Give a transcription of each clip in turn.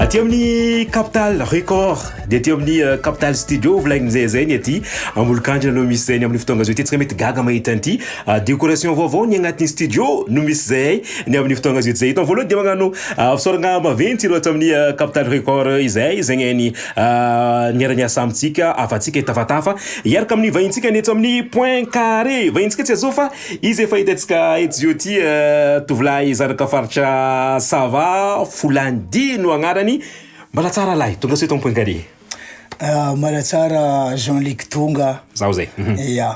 aty amin'ny capital record dia aty amin'ny euh, capital studio volagn'izay zay ny aty amolokandra no misy zay ny amin'ny fotoagna zao ty tsy ka mety gaga mahita an'ity euh, décoration vaovao ny agnatin'ny studio no misy zay ny amin'ny fotoagna zao ty zay hitany voalohany dia magnano euh, fisaoragna maventy ireo aty amin'ny capital record izay zegny ny Niara-niasa amintsika havantsika hitafatafa hiaraka amin'ny vahintsika ny eto amin'ny Point Carré. Vahintsika tsy azao fa izy efa hitantsika etsy zio ity tovolahy zanaka faritra Sava, Folandy no agnarany. Mbala tsara lahy, tonga soa eto amin'ny Point Carré. Mbala tsara Jean Luc Tonga. Zaho zay. Ia.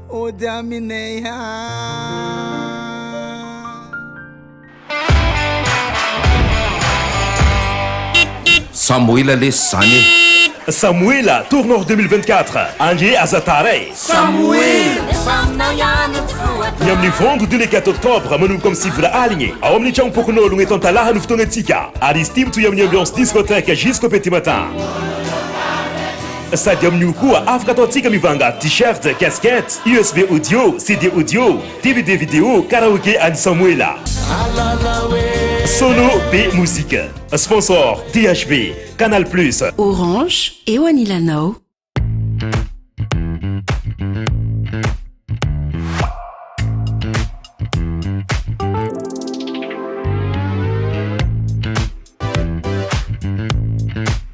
Ody aminay haa. Samoela lesy zany e. Samoela tour nord deux mille vingt quatre ange aza tara e. Ny amin'ny vendredi le quatre octobre manomboka amin'ny sivy ora aligny ao amin'ny tragnom-pokonologno eto Antalaha no fotoagnantsika ary izy ity mitohy amin'ny ambiance discothèque jusqu'au petit matin. Sady amin'io koa afaka ataontsika mivanga t-shirt, casquette, usb audio, CD audio, dvd video, karaoke an'i Samoela. Solo be mozika. Sponsor, DHB, Canal Plus. Orange, eo anilanao.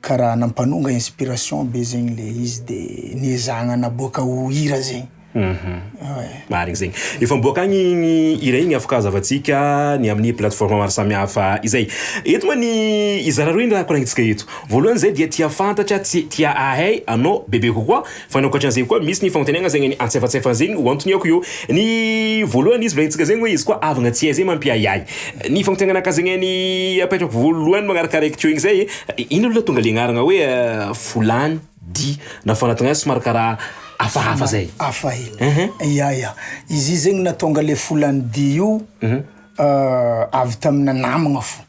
Ka raha nampanonga inspiration be zegny le izy de niezahagna naboaka ho hira zegny. Ouais. Marigny zegny. Efa miboaka agny igny hira igny afaka hazavantsika ny amin'ny plateforme maro samihafa izay. Eto moa ny hizara roa igny raha koragnitsika eto. Voalohany zay dia tia fantatra, tsy tia hahay anao bebe kokoa. Fa ny ankoatran zegny koa misy ny fagnontaniagna zegny ny antsefatsefany zegny ho antoniako eo ny voalohany izy volagnintsika zegny hoe izy koa avagna tsy hay zay mampiahiahy ny fagnontaniagnaka zegny ny apetrako voalohany magnaraka araiky teo igny zay ino aloha tonga le agnarana hoe volany di na fanatignazy somary karaha hafahafa zay hafa hely ya ya izy zegny natonga le volany di io avy tamina namagna fo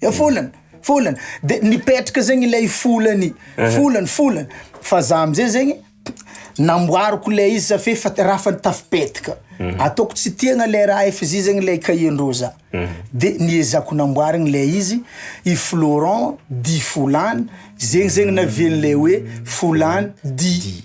Eh folany, folany. De nipetraka zegny ilay folany, folany, folany. Fa za am'zay zegny namboariko le izy za f'efa raha fa tafipetraka. Mhm. Ataoko tsy tiagna le raha efa zay zegny le cahier-ndreo za. Mhm. De niezako namboarigny le izy i Florent dit Folany, zegny zegny navian'le hoe Folany dit.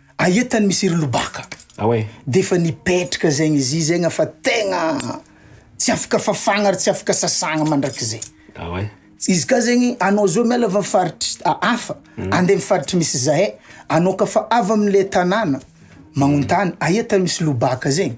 Aia tany misy ry lobaka. Ao e. Defa nipetraka zegny izy i zegny fa tegna tsy afaka fafagna ary tsy afaka sasagna mandrakizay. Ao e. Izy ka zegny anao zao miala avy am faritry hafa andeha am faritry misy zahay, anao ka fa avy amle tanàna magnontany aia tany misy lobaka zegny,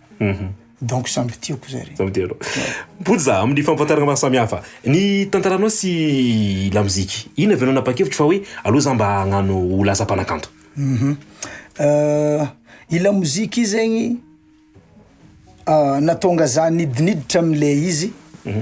Mhm. Donc samby tiako zare. Samby tianao. Mipody za amin'ny fampantarana maro samihafa ny tantaranao sy lamoziky. Inona avy ianao nanapa-kevitra fa hoe aleo za mba hagnano ho lasa mpanakanto? Mhm. Euh, i lamoziky io zegny ah, nahatonga za nidiniditra am'le izy. Mhm.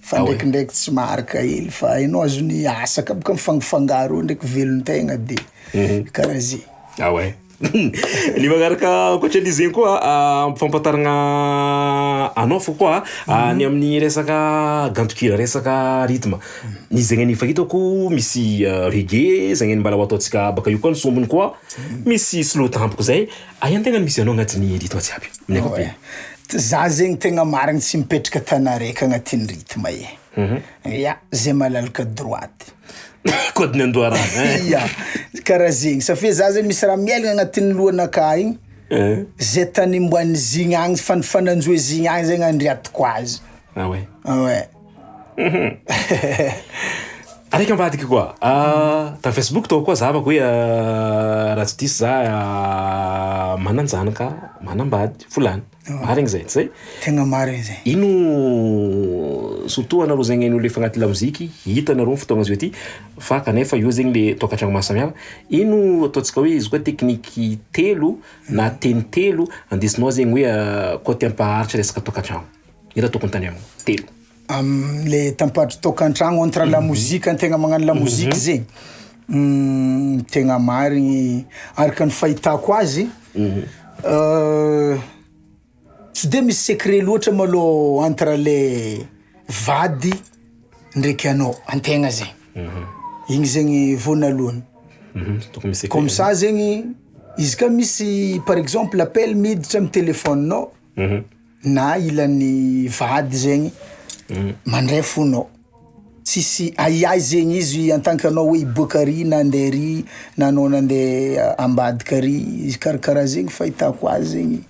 Fa ndraikindraiky tsy maharaka hely fa hainao azony asa ka boka mifangofangaro eo ndraiky velon-tegna be mhm. karaha ze ah ouais ny magnaraka ankoatra an'izy zegny koa ah, ampifampataragna anao fo koa ah, mhm. ny amin'ny resaka gantokira resaka rythme ny zegny ny fahitako misy ah, reggae zegny ny mbala ho ataontsika baka io koa ny sombiny koa mhm. misy slow tampoka zay Aia ny tena misy anao agnatin'ny rythme tsy aby amin'ny ankapobeny? Za zegny tegna marigny tsy mipetraka tany araiky agnatin'ny rythme e. Ya, zay malalaka droite. Code ny an-doharano e. Ya, karaha zegny satria za zany misy raha miaigny agnatin'ny lohanakà igny, zay tany omban'izigny agny, fanifananjohy zigny agny zegny andriatiko azy. Ah ouais? Ah ouais. Araiky ambadika koa tamin'ny facebook tao koa zavako hoe raha tsy diso za manan-janaka manambady folany marigny zay tsy zay tegna marigny zay ino surtout anareo zegny an'olo efa agnaty lamoziky hita anareo ny fotoagna zao ty fa kanefa eo zegny le tokantragno maha samihafa ino ataontsika hoe izy koa tekniky telo na teny telo andesinao zegny hoe côté ampaharitra resaka tokantragno Eto tokony tany am telo. Amle tampadro toaka antragno entre la mozika tegna magnano la mozika mhm. zegny mm, tegna marigny araka ny fahitako azy mhm. euh, tsy de misy secret loatra malô entre le vady ndraiky anao antegna zegny mhm. igny zegny voanalohany comme ça zegny izy ka misy par exemple appel miditra am telefonenao na ilan'ny vady zegny mandray fonao, tsisy ahiahy zegny izy en tant que anao hoe hiboaka ary na andeha ary na anao nandeha ambadika ary izy karakaraha zegny fahitako azy zegny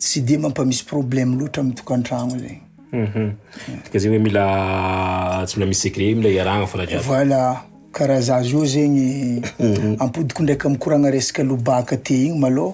tsy de mampamisy problème loatra amin'ny tokantragno zegny. Dika zegny hoe mila tsy mila misy secret mila iarahana fona jiaby. Voilà, karaha za zao zegny ampodiko ndraika mikoragna resaka lobaka ty igny malôha.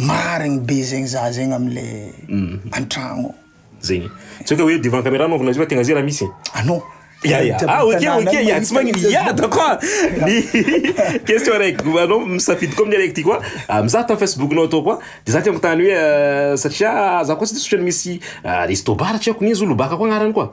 Marigny be zegny za zegny amle antragno. Zegny tsy hoe ka hoe devant camera anaovana izy io fa tegna zay raha misy Anô Ya ya ah ok ok ya tsy magnino ya d'accord ny question araiky anao misafidy koa amin'ny araiky ty koa ah, mizaha tamin'ny Facebook-nao atao koa de za ty agnotany hoe satria za koa tsy de sotrany misy resto bar tsy haiko ny izy io lobaka koa agnarany koa.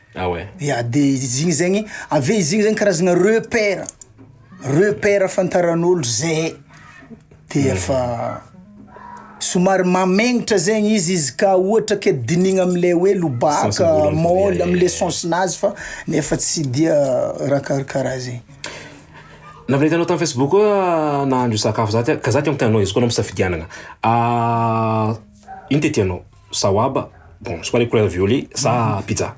Ah ouais. Ya de izy igny zegny, avy eo izy igny zany karazana repère, repère ahafantaran'olo zay de efa somary mamegnitra zegny izy izy ka ohatra ke dinihina am'le hoe lobaka, Sens-ny voalohany fa môly, dia- am'le sens-nazy fa nefa tsy dia raha karakaraha zay. Navy nitanao tam Facebook koa nahandro sakafo za ty, ka za ty amiko te hanao izy koa anao am-pisafidianana, ino ty tianao? Sawaba, bon c'est quoi les couleurs violet sa pizza?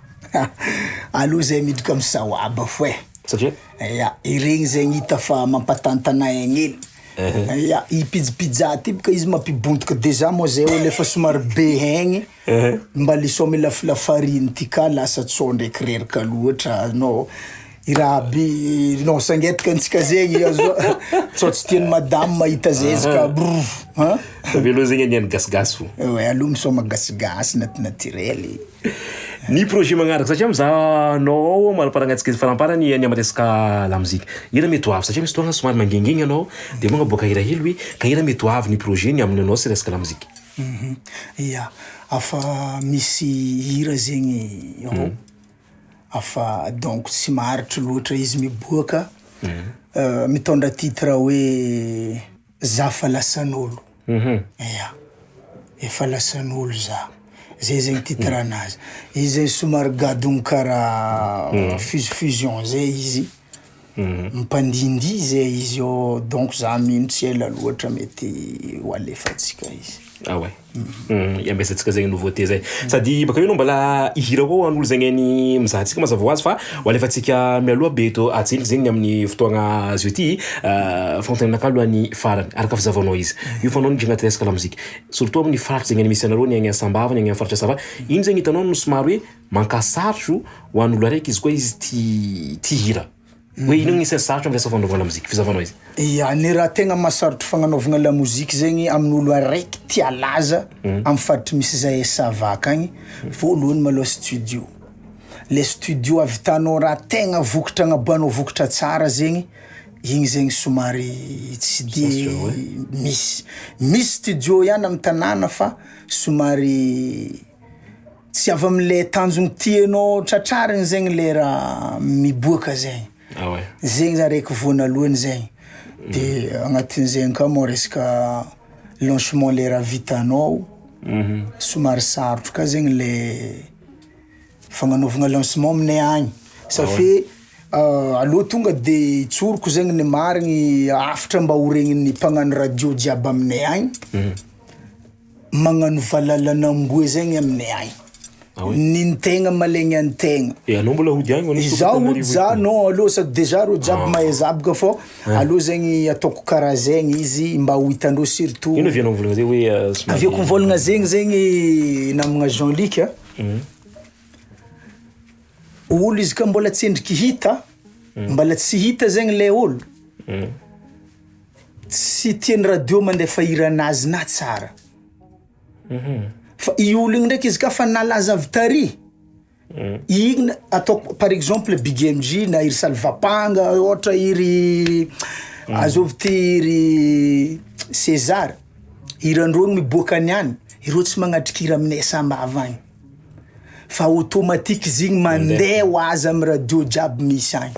Aleo zay miditra am sawaba fo eh! Satria? Ya, iregny zegny hita fa mampatantana egny hely. Ya, i pizz pizza ty boka izy mampibontoka dejà moa zay olo efa somary be egny, mba le sao mila fila farine ty ka lasa tsao ndraiky reraka loatra no. i rahaby non sangetika antsika zegny azo sao tsy tian'ny madame mahita zezika ah. brr hein avy aloha zegny aniany gasigasy fo ouais aloha misaoma gasigasy nat naturel e. ny projet magnaraka satria mizaha anao ao manamparagnatsika faramparany any amin'ny resaka lamozika hira mety ho avy satria misy fotoagna somary mangengengy anao dia moa boaka hira hely hoe ka hira mety ho avy ny projet ny amin'ny anao sy resaka lamozika mhm. ya afa misy hira zegny ao mhm. Afa donc tsy maharitry loatra izy miboaka mitondra titre hoe za fa lasan'olo ya efa lasan'olo za zay zegny titre anazy izy zegny somary gadogno karaha fusion fusion zay izy. Mpandihindihy izay izy eo donc za mino tsy ela loatra mety ho alefantsika izy. Ah ouais. Hum, iambesantsikka zegny nouveauté zay. Sady baka eo anao mbala hihira koa ho an'olo zegny hainy mizaha antsika mazava ho azy fa ho alefantsika mialoha be eto Hatsiaka zegny amin'ny fotoagna azo ity fagnontenainakà aloha ny farany araka fazavanao izy io fa anao miditra agnaty resaka lamozika surtout amin'ny faritra zegny misy anareo ny agny Sambava ny agny amin'ny faritra Sava ino zegny hitanao no somary hoe Mankasarotro ho an'olo araiky izy koa izy tia tia hira. Hoe ino ny isan'ny sarotra amin'ny resaka fanaovana lamozika? Fizahavanao izy. Ia, ny raha tegna mahasarotro fagnanaovagna lamozika zegny amin'olo araiky tia halaza amin'ny faritry misy zahay ça va akagny, voalohany malôha studio. Le studio ahavitanao raha tegna vokatra agnaboahanao vokatra tsara zegny, igny zegny somary tsy de misy. Misy studio ihany am'tanàna fa somary. Tsy avy amle tanjogny tianao tratrarigny zegny le raha miboaka zegny, zegny zany raiky voanalohany zegny, de agnatin'izegny ka moa resaka lancement le raha vitanao somary sarotro ka zegny le fagnanaovagna lancement aminay agny safe aleo tonga de tsoriko zegny ny marigny hafatra mba horegnin'ny mpagnano radio jiaby aminay agny. Magnano valalan'amboa zay ny aminay agny. Ah oui? Ny ny tegna malegny an'i tegna. Eh anao mbola hody agny ho an'i Izaho hody Sokatanarivo za etoa? non alou sady dejà reo jiaby Ah. mahay zaboka fô Ah. alou zegny ataoko karaha zegny izy mba ho hitan'reo surtout Ino avy anao mivôlagna zay hoe ah, somary Avy eo koa mivôlagna zegny zegny namagna Jean Luc a. Olo izy ka mbola tsendriky hita, mbala tsy hita zegny le olo. Tsy tian'ny radio mandefa hiran'azy na tsara. Fa i olo igny ndraiky izy ka fa nalaza avy tary, igny ataoko par exemple big MJ na i ry salvapanga ohatra i ry azovy ty i ry sezara hiran-dreo no miboaka any any ireo tsy magnatrika hira aminay sambava agny fa automatique izy igny mandeha ho azy amy radio jiaby misy agny.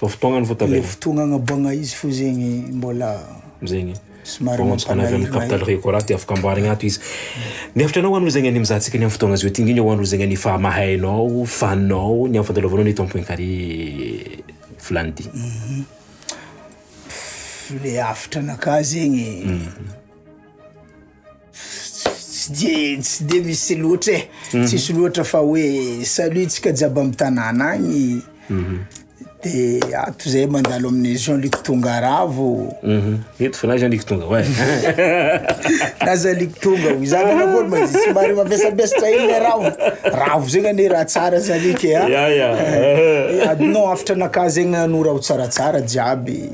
Vao fotoagna ny votabene. Le fotoagna agnaboagna izy fo zegny mbola. Zegny. Somary mampalahelo. Capital Records dia afaka amboarigna ato izy. Miafitra anao hoan'olo zegny anie mizaha antsika anie am fotoagna zao ty. Indrindra hoan'olo zegny anie fa mahay anao, fan nao, ny am fandalovanao ny eto am point carré vilany ty. Le hafatra anakah zegny. tsy de tsy de misy loatra e mhm. tsisy loatra fa hoe salut tsika jiaby amy tanàna agny mhm. de ato zay mandalo amin'ny jean luc tonga ravo mhm. eto fa na jean luc tonga oe na jean luc tonga o izany anakory ma tsy mary mampiasampiasatra iny le ravo ravo zegny anie raha tsara jean luc e a eh, adinao hafitra anakah zegny anao raha ho tsaratsara jiaby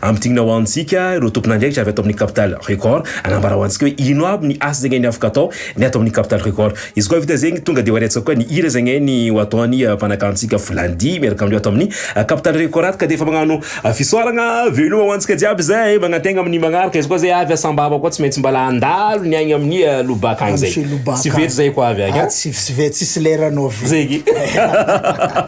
Ampidinina ho antsika ireo tompon'andraikitra avy ato amin'ny Capital Record, hanambara ho antsika hoe ino aby ny asa zegny ny afaka atao ny ato amin'ny Capital Record. Izy koa vita zegny, tonga dia ho arehatsika koa ny hira zegny ny ho ataon'ny mpanakantsika Volandia miaraka amin'ireo ato amin'ny Capital Record ato ka dia efa magnano fisaoragna veloma ho antsika jiaby zay magnantegna amin'ny magnaraka. Izy koa zay avy Sambava koa tsy maintsy mbala handalo ny agny amin'ny Lobaka agny zay. Tsy vetsy zay koa avy agny an. Tsy vetsy tsisy lerany ovi. Zegny.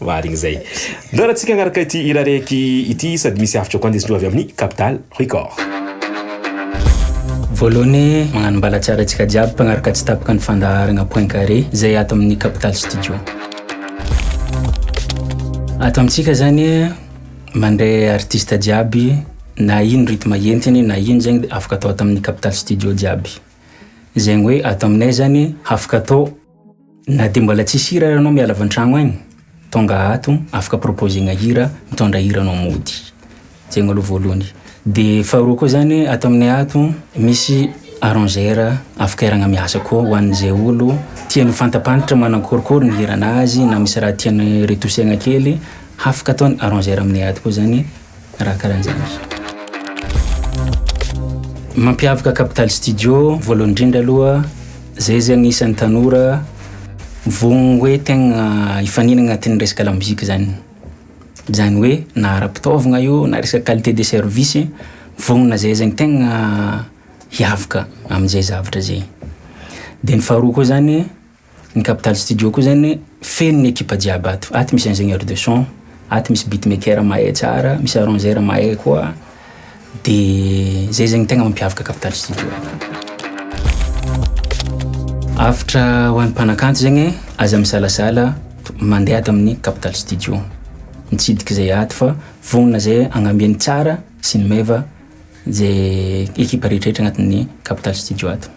Marigny zay. Ndao raha tsika agnaraka ity hira raiky ity sady misy hafatra koa ndesindreo avy amin'ny Capital Record. Voalohany magnano mbalatsiara antsika jiaby mpagnaraka tsy tapaka ny fandaharagna point carré zay ato amin'ny Capital Studio. Ato amintsika zany mandre artiste jiaby na ino rythme entiny na ino zegny de afaka atao ato amin'ny Capital Studio jiaby. Zegny hoe ato aminay zany hafaka atao. Na dia mbola tsisy hira ary anao miala avy an-tragno agny, tonga ato afaka proposer-gna hira, mitondra hira anao mody. Zegny aloha voalohany. De faharoa koa zany ato aminay ato misy arrangeur afaka iaragna miasa koa ho an'ze olo tiany ho fantapantatra manakôrikôry ny hiran'azy na misy raha tiany retousegna kely hafaka ataony arrangeur aminay ato koa zany. raha karan'zany. Mampiavaka Capital Studio voalohany indrindra aloha zay zay agnisan'ny tanora vonogny hoe tegna hifanina agnatin'ny resaka lamozika zany zany hoe na ara-pitaovagna io na resaka qualité de service vognona zay zegny tegna hiavaka am'zay zavatra zay de ny faharoa koa zany Ny Capital Studio koa zany feno ny ekipa jiaby ato. Ato misy ingénieur de son, ato misy beatmaker mahay tsara, misy arrangeur mahay koa. De zay zegny tegna mampiavaka Capital Studio ato. Avotra ho an'ny mpanakanto zegny aza misalasala mandeha ato amin'ny Capital Studio. Mitsidika zay ato fa vonona zay agnamia ny tsara sy ny meva zay ekipa rehetra rehetra agnatin'ny Capital Studio ato.